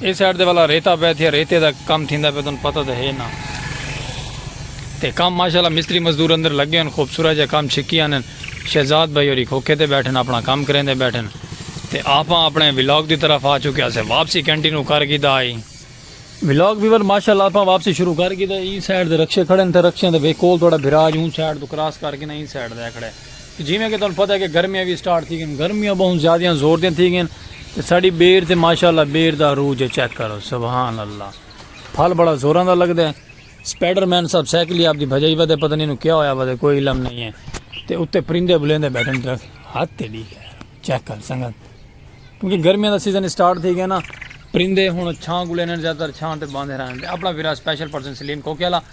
اے side دے والا ریتا پے تھیا ریتے دا کم تھیندا پے تن پتہ تے ہے نا تے کم ماشاءاللہ مستری مزدور اندر لگے ہن خوبصورت جا کم چھکی آنن شہزاد بھائی ہوری کھوکھے تے بیٹھن اپنا کم کریندے بیٹھن تے آپاں اپنے ولاگ دی طرف آ چکے اسے واپسی کنٹینو کر گھیدا آئی ولاگ ویور ماشاءاللہ آپاں واپسی شروع کر گھیدا ایں سائیڈ دے رکشے کھڑے ہن تے رکشیاں دے وے کول تہاڈا بھرا اج اون سائیڈ تو کراس کر کے نا ایں سائیڈ دے کھڑے جیویں کہ تہاݙوں پتہ ہے کہ گرمیاں وی سٹارٹ تھی ڳئین، گرمیاں ٻہوں زیادیاں زور دیاں تھی ڳئین تے ساݙی ٻیر تے ماشاءاللہ ٻیر دا عروج ہے چیک کرو سبحان اللہ پھل بڑا زوراں دا لڳدا ہے سپائیڈر مین صاحب سائیکلی آپ دی بھڄائی ودے پتہ نی اینوں کیا ہویا ودے کوئی علم نئیں ہے تے اتے پرندے بلیندے بیٹھن درخت حد تیݙی خیر چیک کر سنگت کیونکہ گرمیاں دا سیزن سٹارٹ تھی ڳئین پرندے ہݨ چھاں کوں لینن زیادہ تر چھاں تے باندھے رہݨ تے اپݨا ویرا سپیشل پرسن سلیم کوکے والا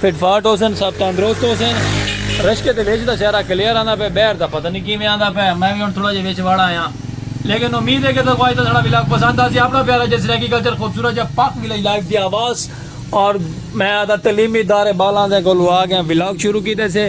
فٹ فاٹ ہوسن سب تندرست ہوسن رشکے دے وچ دا سیارا کلیئر آندا پے بہر دا پتہ نہیں کیویں آندا پے میں وی ہن تھوڑا جے وچ وڑ آیاں لیکن امید ہے کہ تساں کو اج دا ساڑا ولاگ پسند آسی اپنا پیارا جسر ایگریکلچر خوبصورت جا پاک ولیج لائف دی آواز اور میں آدھا تعلیمی ادارے بالاں دے کولو آ گئے ولاگ شروع کیتے سے۔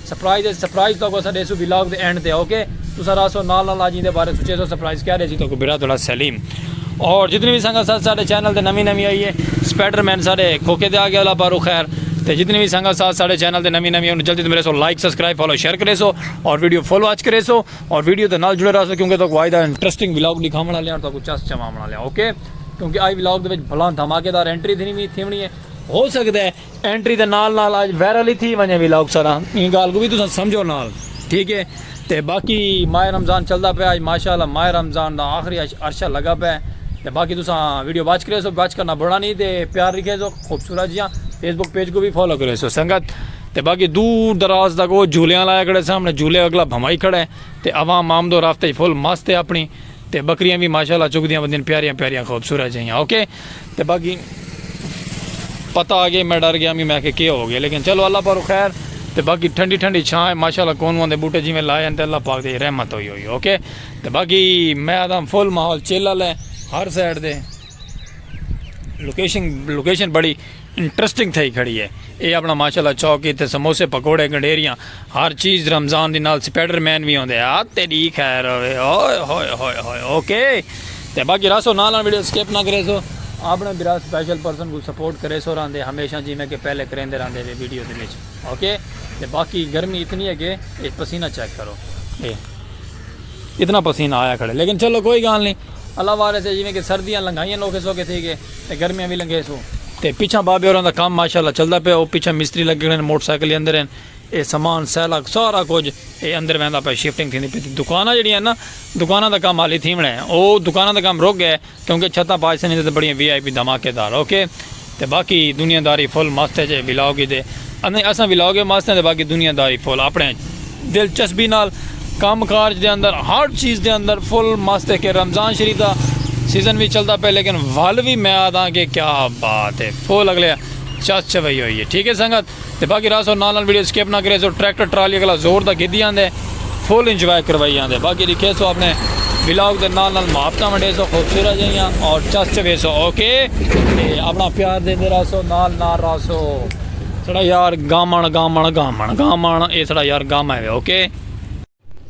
سرپرائز اچ سرپرائز تہاکوں اساں ڈیسوں ولاگ دے اینڈ تے اوکے تساں رہسو نال نال اج ایندے بارے سوچیسو سرپرائز کیا ڈیسی تہاکوں برا تہاڈا سلیم اور جتنی وی سنگت ساتھ ساڈے چینل تے نویں نویں آئی اے سپائڈر مین ساڈے کھوکے تے آ گیا اللہ پاروں خیر تے جتنی وی سنگت ساتھ ساڈے چینل تے نویں نویں انہوں جلدی توں ملیسو لائک سبسکرائب فالو شیئر کریسو اور ویڈیو فل واچ کریسو اور ویڈیو دے نال جڑے رہسو کیونکہ تہاکوں آئی دا انٹرسٹنگ ولاگ ڈکھاون والے آں اور تہاکوں چس چواون والے آں اوکے کیونکہ آئی ولاگ دے وچ بھلاں دھماکے دار انٹری تھینی تھیونی اے ہو سکدا اے اینٹری دے نال نال اج وائرل ہی تھی ونجے ولاگ سارا ایں گال کو وی تساں سمجھو نال ٹھیک ہے تے باقی ماہ رمضان چلدا پیا اج ماشاءاللہ ماہ رمضان دا آخری عرشہ لگا پے تے باقی تساں ویڈیو واچ کریسو واچ کرنا بھولا نی تے پیار رکھیسو خوبصورت جیاں فیس بک پیج کو وی فالو کریسو سنگت تے باقی دور دراز تک او جھولیاں لایا کھڑے سامنے جھولے اگلا بھمائی کھڑے تے عوام آمد و رفت اچ فل مست ہے اپنی تے بکریاں وی ماشاء اللہ چگدیاں وندین پیاریاں پیاریاں خوبصورت جیہاں اوکے تے باقی پتہ آ گیا میں ڈر گیا میں کہ کیا ہو گیا لیکن چلو اللہ پارو خیر تے باقی ٹھنڈی ٹھنڈی چھاں ہے ماشاء اللہ کون وندے بوٹے جیویں لائے ہیں تے اللہ پاک دی رحمت ہوئی ہوئی اوکے تے باقی میں آدم فل ماحول چل والے ہر سائڈ دے لوکیشن لوکیشن بڑی انٹرسٹنگ تھئی کھڑی ہے اے اپنا ماشاءاللہ چوک کیتے سموسے پکوڑے گنڈیریاں ہر چیز رمضان دی نال سپائڈر مین وی ہوندے آ تیری خیر ہوے اوئے ہوئے ہوئے ہوئے اوکے تے باقی راسو نال نال ویڈیو سکپ نہ کرے سو اپنے برا سپیشل پرسن کو سپورٹ کرے سو راندے ہمیشہ جی میں کہ پہلے کریندے راندے وی ویڈیو دے وچ اوکے تے باقی گرمی اتنی ہے کہ اے پسینہ چیک کرو اے اتنا پسینہ آیا کھڑے لیکن چلو کوئی گال نہیں اللہ وارے سے جیویں کہ سردیاں لنگھائیاں نوکھے سوکھے تھی گئے تے گرمیاں وی لنگھے سوں۔ تے پچھاں بابے ہوراں دا کم ماشاء اللہ چلدا پئے او پچھاں مستری لگے کھڑے ہن موٹر سائیکل ہی اندر ہن اے سامان سیلک سارا کجھ اے اندر ویندا پئے شفٹنگ تھیندی پئی تے دکاناں جیڑھیاں ہن نا دکاناں دا کم حالی تھیوݨا اے او دکاناں دا کم رک گئے کیونکہ چھتاں پاج سنیدے تے بڑیاں وی آئی پی دھماکے دار اوکے تے باقی دنیا داری فل مست اچ اے ولاگ اچ دے اندے اساں ولاگ اچ مست ہیں تے باقی دنیا داری فل اپنے دلچسپی نال کم کارج دے اندر ہر چیز دے اندر فل مست ہے کہ رمضان شریف دا سیزن وی چلدا پئے لیکن ول وی میں آداں کہ کیا بات ہے فل اگلے چس چوئی ہوئی ہے ٹھیک ہے سنگت تے باقی راسو نال نال ویڈیو سکپ نہ کرے سو ٹریکٹر ٹرالی اگلا زور دا گھدی آندے فل انجوائے کروائی آندے باقی لکھے سو اپنے ولاگ دے نال نال محبتاں ونڈے سو خوبصورت جائیاں اور چس چوے سو اوکے تے اپنا پیار دے دے راسو نال نال راسو سڑا یار گامن گامن گامن گامن اے سڑا یار گامن ہے اوکے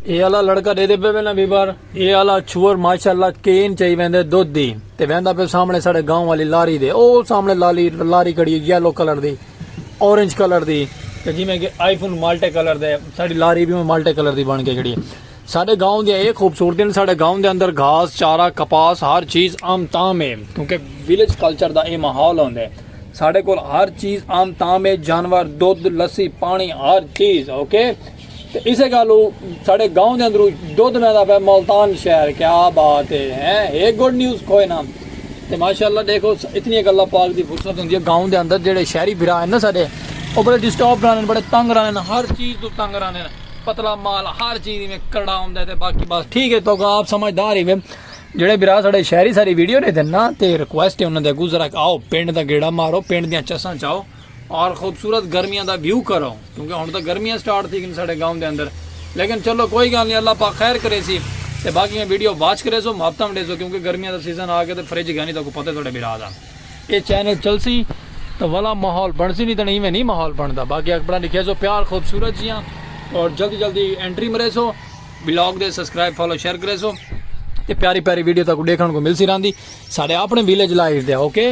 اے آلا لڑکا ڈیدے پے وینا بی بار اے آلا چھوور ماشاءاللہ کین چائی ویندے دودھ دی تے ویندا پے سامنے ساڈے گاؤں والی لاری دے او سامنے لالی لاری کھڑی ہے یلو کلر دی اورنج کلر دی تے جویں کہ آئی فون مالٹے کلر دے ساڈی لاری بھی مالٹے کلر دی بن کے کھڑی ہے ساڈے گاؤں دی اے خوبصورتی نے ساڈے گاؤں دے اندر گھاس چارہ کپاس ہر چیز عام تام ہے کیونکہ ویلیج کلچر دا اے ماحول ہوندے ہے ساڈے کول ہر چیز عام تام ہے جانور دودھ لسی پانی ہر چیز اوکے okay. تے اسے گالھ اوں ساڈے گاؤں دے اندروں دودھ ویندا پئے ملتان شہر کیا بات ہے ہیں ہے گڈ نیوز کوئے نہ تے ماشاءاللہ دیکھو اتنی اک اللہ پاک دی فرصت ہوندی ہے گاؤں دے اندر جیڑے شہری بھرا ہیں نا ساڈے او بڑے ڈسٹرب رہندے بڑے تنگ رہندے ہر چیز تو تنگ رہندے پتلا مال ہر چیز میں کرڑا ہوندا ہے تے باقی بس ٹھیک ہے تو آپ سمجھدار ہی جڑے بھرا ساڈے شہری ساری ویڈیو نے دینا تے ریکویسٹ ہے انہاں دے اگوں ذرا آؤ پنڈ دا گیڑا مارو پنڈ دیاں چساں چاؤ اور خوبصورت گرمیاں دا ویو کرو کیونکہ ہن تاں گرمیاں سٹارٹ تھی گن ساڈے گاؤں دے اندر لیکن چلو کوئی گال نہیں اللہ پاک خیر کریسی تے باقی میں ویڈیو واچ کریسو محبتاں ونڈیسو کیونکہ گرمیاں دا سیزن آ گیا تے فریج گانی تاکو پتہ تھوڑے بھرا دا اے چینل چلسی تاں ولا ماحول بنسی نہیں تاں ایویں نہیں ماحول بندا باقی اکبران لکھیسو پیار خوبصورت جیاں اور جلدی جلدی انٹری مریسو ولاگ دے سبسکرائب فالو شیئر کریسو تے پیاری پیاری ویڈیو تاکو ڈیکھن کو ملسی راندی ساڈے اپنے ویلیج لائف دے اوکے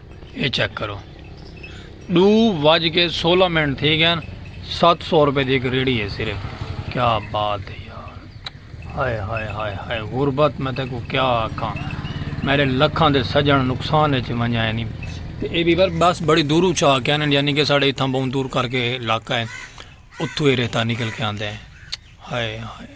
یہ چیک کرو ڈو وج کے سولہ منٹ تھی گئے سات سو روپے دی ایک ریڑی ہے صرف کیا بات ہے یار ہائے ہائے ہائے ہائے غربت میں تے کو کیا آکھاں میرے لکھاں دے سجن نقصان وچ ونجا ہے نہیں تے اے بھی بس بڑی دورو چا کے آنے یعنی کہ ساڑے اتھاں بہت دور کر کے علاقہ ہے اتھو اے رہتا نکل کے آندے ہیں ہائے ہائے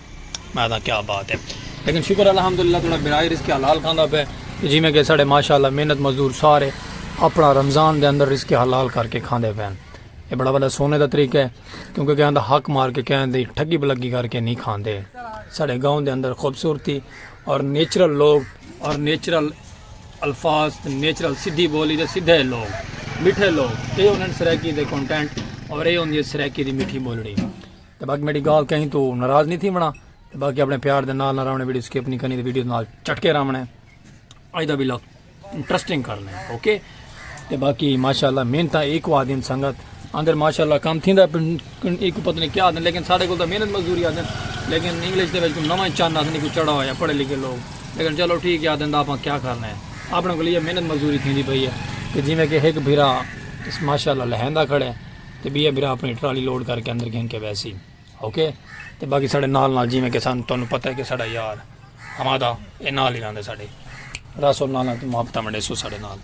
میں دا کیا بات ہے لیکن شکر الحمدللہ تھوڑا برائے رزق حلال کھاندا پے جی میں کہ ساڑے ماشاءاللہ محنت مزدور سارے اپنا رمضان دے اندر رزق حلال کر کے کھاندے پے اے بڑا بڑا سونے دا طریقہ ہے کیونکہ کہاں دا حق مار کے کہاں دی ٹھگی بلگی کر کے نہیں کھاندے ساڑے گاؤں دے اندر خوبصورتی اور نیچرل لوگ اور نیچرل الفاظ نیچرل سیدھی بولی دے سیدھے لوگ میٹھے لوگ اے انہاں سرائیکی دے کنٹینٹ اور اے انہاں سرائیکی دی میٹھی بولڑی تے باقی میڈی گال کہیں تو ناراض نہیں تھی ونا تے باقی اپنے پیار دے نال نہ راونے ویڈیو سکپ نہیں کرنی تے ویڈیو نال چٹکے راونے اج دا ویلا انٹرسٹنگ کر لیں اوکے تے باقی ماشاءاللہ محنت ایک وا دین سنگت اندر ماشاءاللہ کام تھیندا ایک پتہ نہیں کیا دین لیکن ساڈے کول تو محنت مزدوری آدن لیکن انگلش دے وچ کوئی نواں چن آدن کوئی چڑھا ہویا پڑھے لکھے لوگ لیکن چلو ٹھیک ہے آدن دا اپاں کیا کرنا ہے اپنے کول یہ محنت مزدوری تھیندی پئی ہے کہ جویں کہ ایک بھرا ماشاءاللہ لہندا کھڑے تے ٻیئے بھرا اپݨی ٹرالی لوڈ کر کے اندر گھن کے ویسی اوکے تے باقی ساڈے نال نال جیویں کہ سان تانوں پتہ ہے کہ ساڈا یار حمادہ اے نال ہی رہندے ساڈے راسو نال نال محبتاں ونڈے سو ساڈے نال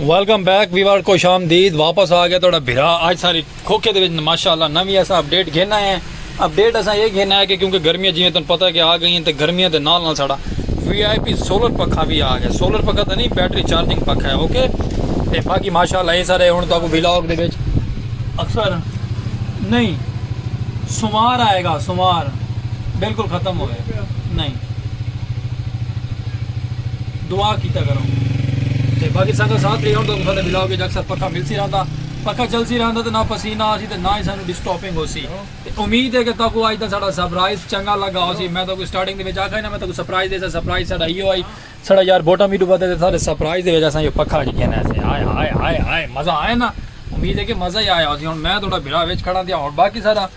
ویلکم بیک ویور خوش آمدید واپس آ گیا تہاڈا بھرا اج ساری کھوکھے دے وچ ماشاءاللہ نویں اسا اپڈیٹ گھن آئے ہیں اپ ڈیٹ اساں اے گھن آئے کہ کیونکہ گرمیاں جیویں تن پتہ ہے کہ آ گئی ہیں تے گرمیاں دے نال نال ساڑا وی آئی پی سولر پکھا وی آ گیا سولر پکھا تاں نہیں بیٹری چارجنگ پکھا ہے اوکے تے باقی ماشاءاللہ اے سارے ہن تاکو ویلاگ دے وچ اکثر نہیں سومار آئے گا سومار بالکل ختم ہو گئے نہیں دعا کیتا کرو تے باقی سنگت ساتھ رہی ہن تاکو سارے ویلاگ وچ اکثر پکھا ملسی رہندا پکھا چلسی رہندا تے نہ پسینہ آسی تے نہ ہی سانوں ڈسٹاپنگ ہوسی تے امید ہے کہ تہاکوں اج دا ساڈا سرپرائز چنگا لگا ہوسی میں تہاکوں سٹارٹنگ دے وچ آکھا ہی نا میں تہاکوں سرپرائز ڈیساں سرپرائز ساڈا ایہو ہئی ساڈا یار بوٹم ایڈو ودھے تے سارے سرپرائز دے وچ اساں ایہو پکھا اج گھن آئے سے ہائے ہائے ہائے ہائے مزہ آیا نا امید ہے کہ مزہ ہی آیا ہوسی ہن میں تہاڈا بھرا وچ کھڑاں تے ہن باقی سارا